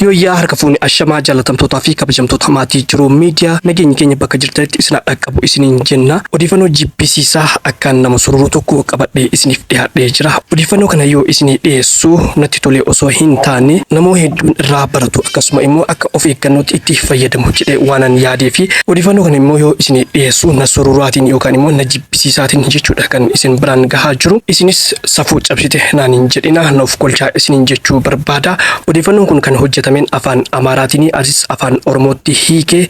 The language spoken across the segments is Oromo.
Yooyyaa harka fuuni ashamaa jaalatamtootaa fi kabajamtoota maatii jiruu miidiyaa nageenyi keenya bakka jirtanitti isin qabu isiniin jenna. Odeefannoo jibbisiisaa akkaan nama sururu tokko qabadhee isiniif dhihaadhee jira. Odeeffannoo kana yoo isinii dhiyeessu natti tolee osoo hin taane namoo hedduun irraa baratu akkasuma immoo akka of eeggannootti itti fayyadamu jedhee waanan yaadeefi. Odeeffannoo kana immoo yoo isinii dhiyeessu na sururaatiin yookaan immoo na jibbisiisaatiin jechuudha kan isin biraan gahaa jiru. Isinis safuu cabsite naan hin jedhina na of kolchaa isiniin jechuu barbaada. Odeeffannoon kun kan hojjetameen afaan Amaaraatiini atis afaan Oromootti hiikee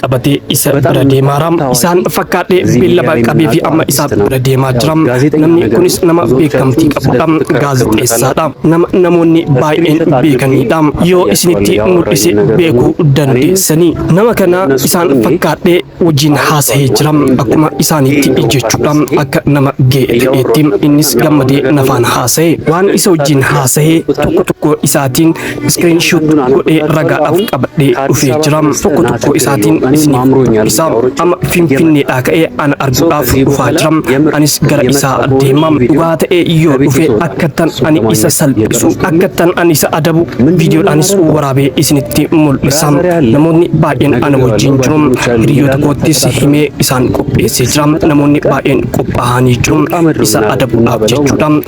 qabatee isa bira deemaara. Isaan fakkaadhee beellaba qabeefi amma isa bira deemaa jira. Namni kunis nama beekamtii qabudha. Gaazexeessaadha. Nama namoonni baay'een beekaniidha. Yoo isinitti mul'ise beekuu dandeessanii. Nama kana isaan fakkaadhee wajjin haasa'ee jira. Akkuma isaaniitti jechuudha. Akka nama ga'e ta'eetti. Innis gammadee nafaan haasa'e. Waan isa wajjin haasa'e tokko tokko isaatiin screen shoot godhee ragaadhaaf qabadhee dhufee jira tokko tokko isaatiin isiniif dubbisa amma finfinneedhaa ka'ee ana arguudhaaf dhufaa jira anis gara isaa deema dhugaa ta'ee yoo dhufe akkattan ani isa salphisu akkattan ani isa adabu viidiyoodhaanis waraabee isinitti mul'isa namoonni baay'een ana wajjin jiru hiriyoota koottis himee isaan qopheessee jira namoonni baay'een qophaa'anii jiru isa adabuudhaaf jechuudha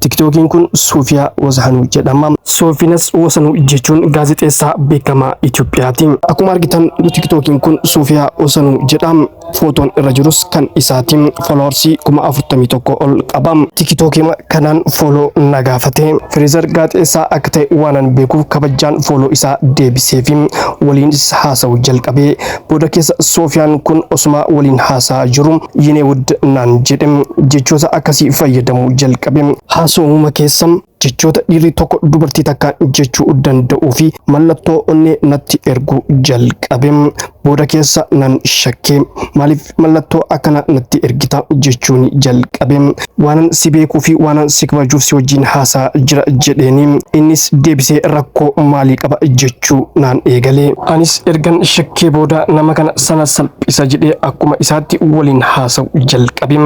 Tiktookiin kun Suufiyaa Wazahanuu jedhama. Soofinas Wasanuu jechuun gaazexeessaa beekamaa Itoophiyaati. Akkuma argitan tiktookiin kun Suufiyaa Wasanuu jedha. Footoon irra jirus kan isaati. Fooloowarsii kuma afurtamii tokko ol qaba. Tikitookima kanaan fooloo na gaafate. Fireezar gaazexeessaa akka ta'e waanan beekuuf kabajaan fooloo isaa deebiseefi waliinis haasa'uu jalqabe. Booda keessa Soofiyaan kun osuma waliin haasa'aa jiru yene wudd naan jedhe. Jechoota akkasii fayyadamuu jalqabe. Haasawuma keessa jechoota dhiirri tokko dubartii takkaan jechuu danda'uu fi mallattoo onnee natti erguu jalqabe. Booda keessa nan shakke. Maaliif mallattoo akkana natti ergita jechuun jalqabe. waanan si beekuu fi waanan si kabajuuf si wajjin haasaa jira jedheeni innis deebisee rakkoo maalii qaba jechuu naan eegale anis ergan shakkee booda nama kana sana salphisa jedhee akkuma isaatti waliin haasa'u jalqabe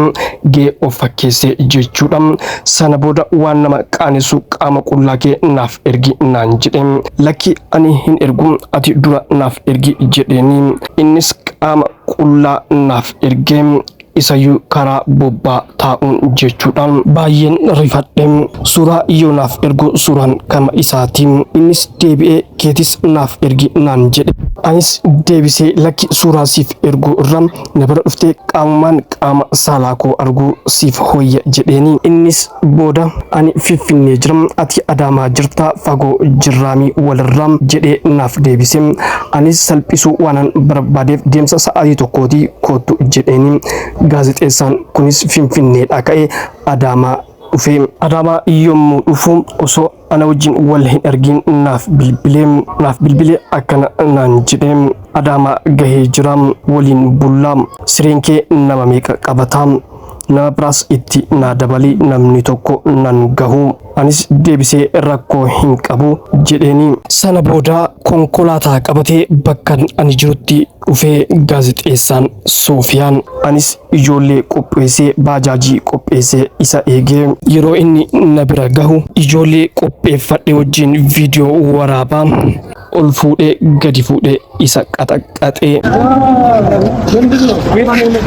gee of fakkeessee jechuudha sana booda waan nama qaanessu qaama qullaa kee naaf ergi naan jedhe lakki ani hin ergu ati dura naaf ergi jedheeni innis qaama qullaa naaf ergee isayyuu karaa bobbaa taa'uun jechuudha baay'een rifadhe suuraa yoo naaf ergu suuraan kama isaati innis deebi'ee keetis naaf ergi naan jedhe anis deebisee lakki suuraa siif ergu irra na bira dhuftee qaamumaan qaama saalaa koo arguu siif hoyya jedheeni innis Booda ani Finfinnee jira, ati Adaamaa jirta, fagoo jirraami walirraa jedhee naaf deebise. Anis salphisuu waanan barbaadeef deemsa sa'aatii tokkooti koottu jedheeni. Gaazexeessaan kunis Finfinneedhaa ka'ee Adaamaa dhufe. Adaamaa yommuu dhufu osoo ana wajjin wal hin argin naaf bilbilee naaf bilbilee akkana naan jedhee adaamaa gahee jira waliin bullaa sireen kee nama meeqa qabataa nama biraas itti naa dabalii namni tokko nan gahu anis deebisee rakkoo hin qabu jedheeni sana booda konkolaataa qabatee bakkan ani jirutti Dhufee gaazexeessaan Soofiyaan. Anis ijoollee qopheessee baajaajii qopheessee isa eegee. Yeroo inni na bira gahu. Ijoollee qopheeffadhe wajjin viidiyoo waraabaa. Ol fuudhee gadi fuudhee isa qaxaqaxee.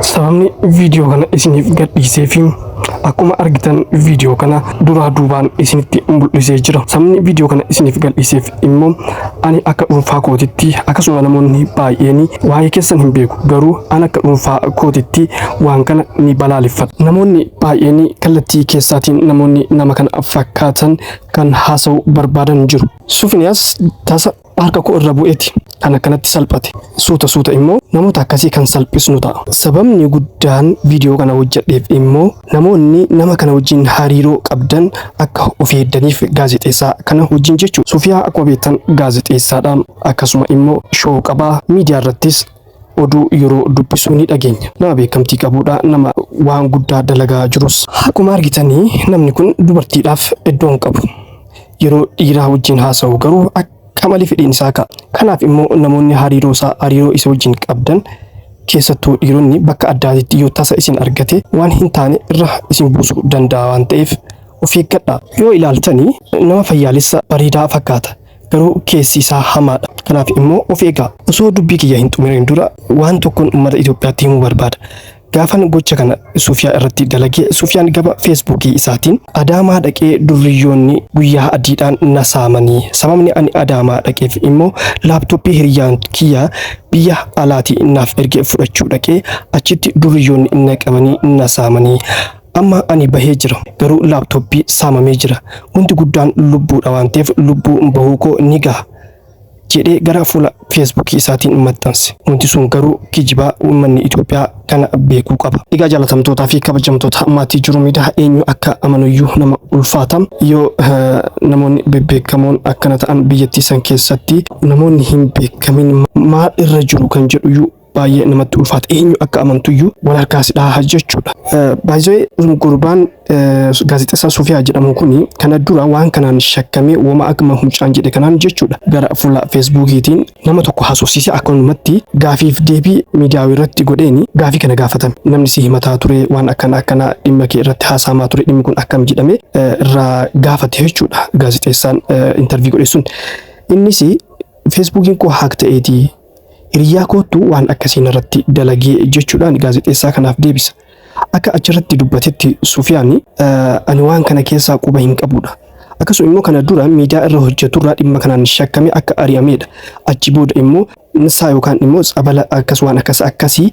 Sababni viidiyoo kana isiniif gadhiisee fi akkuma argitan viidiyoo kana duraa duubaan isinitti mul'isee jira. Sababni viidiyoo kana isiniif gadhiiseef immoo ani akka dhuunfaa kootitti akkasuma namoonni baay'een waa'ee keessan hin beeku garuu an akka dhuunfaa kootitti waan kana ni balaaleffadha. Namoonni baay'een kallattii keessaatiin namoonni nama kana fakkaatan kan haasa'u barbaadan jiru. Sufiniyaas tasa harka koo irra bu'eeti kan akkanatti salphate suuta suuta immoo namoota akkasii kan salphisnu ta'a sababni guddaan viidiyoo kana hojjedheef immoo namoonni nama kana wajjin hariiroo qabdan akka of eeddaniif gaazexeessaa kana wajjin jechuu sufiyaa akkuma beektan gaazexeessaadha akkasuma immoo shoo qabaa miidiyaa irrattis oduu yeroo dubbisuu ni dhageenya. Nama beekamtii qabuudha, nama waan guddaa dalagaa jirus. Akkuma argitanii namni kun dubartiidhaaf iddoo hin qabu. Yeroo dhiiraa wajjin haasa'u garuu akka malee fedhiin isaa ka'a. Kanaaf immoo namoonni hariiroo isaa hariiroo isa wajjin qabdan keessattuu dhiironni bakka addaatitti yoo tasa isin argate waan hin taane irra isin buusuu danda'a waan ta'eef of eeggadhaa. Yoo ilaaltanii nama fayyaalessa bareedaa fakkaata. Garuu keessi isaa hamaadha. Kanaaf immoo of eegaa. Osoo dubbii kiyya hin xumuriin dura waan tokkon ummata Itoophiyaatti himuu barbaada. Gaafan gocha kana Sufiyaa irratti dalage Sufiyaan gama Feesbuukii isaatiin Adaamaa dhaqee durriyyoonni guyyaa adiidhaan na saamani. Sababni ani Adaamaa dhaqeef immoo laaptooppii hiriyyaan kiyya biyya alaatii naaf erge fudhachuu dhaqee achitti durriyyoonni na qabanii na saamani. Amma ani bahee jira garuu laptop saamamee jira wanti guddaan lubbuudha waan ta'eef lubbuu bahuu koo ni gaha jedhee gara fuula Facebook isaatiin maxxanse. Wanti sun garuu kijiba uummanni Itoophiyaa kana beekuu qaba. Egaa jaalatamtootaa fi kabajamtoota maatii jiru miidaa eenyu akka amanuyyuu nama ulfaata. Yoo namoonni bebbeekamoon akkana ta'an biyyattii san keessatti namoonni hin beekamin maal irra jiru kan jedhuyyuu baay'ee namatti ulfaata eenyu akka amantuyyuu wal harkaa si dhahaa jechuudha. Baay'ee gurbaan gaazexessaa Sofiyaa jedhamu kun kana dura waan kanaan shakkamee wama akkuma huccaan jedhe kanaan jechuudha gara fuula feesbuukiitiin nama tokko haasofsiisee akkanumatti gaafiif deebii miidiyaa irratti godheeni gaafii kana gaafatame namni si himataa ture waan akkana akkana dhimma kee irratti haasaamaa ture dhimmi kun akkam jedhame irraa gaafate jechuudha gaazexeessaan intarvii godhe sun innis feesbuukiin koo haak ta'eetii Hiriyyaa koottu waan akkasii narratti dalage jechuudhaan gaazexeessaa kanaaf deebisa. Akka achirratti dubbatetti Sufiyaan, Ani waan kana keessaa quba hin qabudha. Akkasuma immoo kana dura miidiyaa irra hojjeturraa dhimma kanaan shakkame akka ari'amedha. Achi booda immoo nsaa yookaan immoo tsabala akkas waan akkas akkasii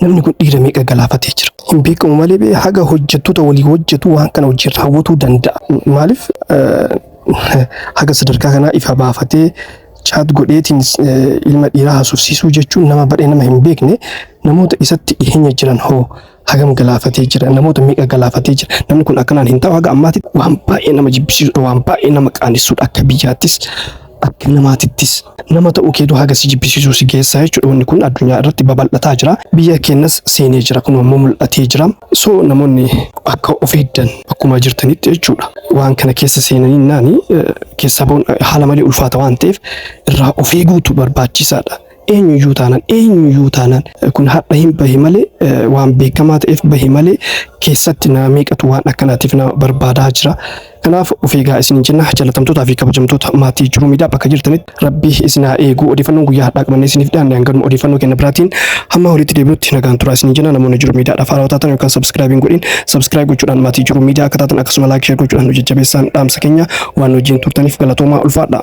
Namni kun dhiira meeqa galaafatee jira. Hin beekamu malee bee haga hojjettoota walii hojjetu waan kana hojii raawwatuu danda'a. Maaliif haga sadarkaa kanaa ifa baafatee chaat godheetiin ilma dhiiraa haasofsiisuu jechuun nama badhee nama hin beekne namoota isatti dhiheenya jiran hoo hagam galaafatee jira namoota meeqa galaafatee jira namni kun akkanaan hin ta'u haga ammaatti waan baay'ee nama jibbisiisudha waan baay'ee nama qaanessudha akka biyyaattis Akka namaatittis. Nama ta'uu keetu haga si jibbisiisuu si geessa jechuudha. Wanni kun addunyaa irratti babal'ataa jira. Biyya keenyas seenee jira. Kunoo ammoo mul'atee jira. So namoonni akka of eegdan bakkuma jirtanitti jechuudha. Waan kana keessa seenaniinnaani keessaa bahuun haala malee ulfaata waan ta'eef irraa of eeguutu barbaachisaadha. eenyuyyuu taanaan eenyuyyuu taanaan kun hadha hin bahe malee waan beekamaa ta'eef bahe malee keessatti nama meeqatu waan akkanaatiif nama barbaadaa jira. Kanaaf of eegaa isin jenna jaalatamtootaa fi kabajamtoota maatii jiruu miidhaa bakka jirtanitti rabbi isin haa eegu odeeffannoon guyyaa hadhaa qabannee isiniif dhiyaanne hanganuma odeeffannoo kenna biraatiin hamma walitti deebinutti nagaan turaa isin jenna namoonni jiruu miidhaa dhaaf haarawaa taatan yookaan sabskraayibiin godhin sabskraayib gochuudhaan maatii jiruu miidhaa akka taatan akkasuma laayik sheer gochuudhaan nu jajjabeessaan dhaamsa keenya Waan wajjin turtaniif galatoomaa ulfaadha.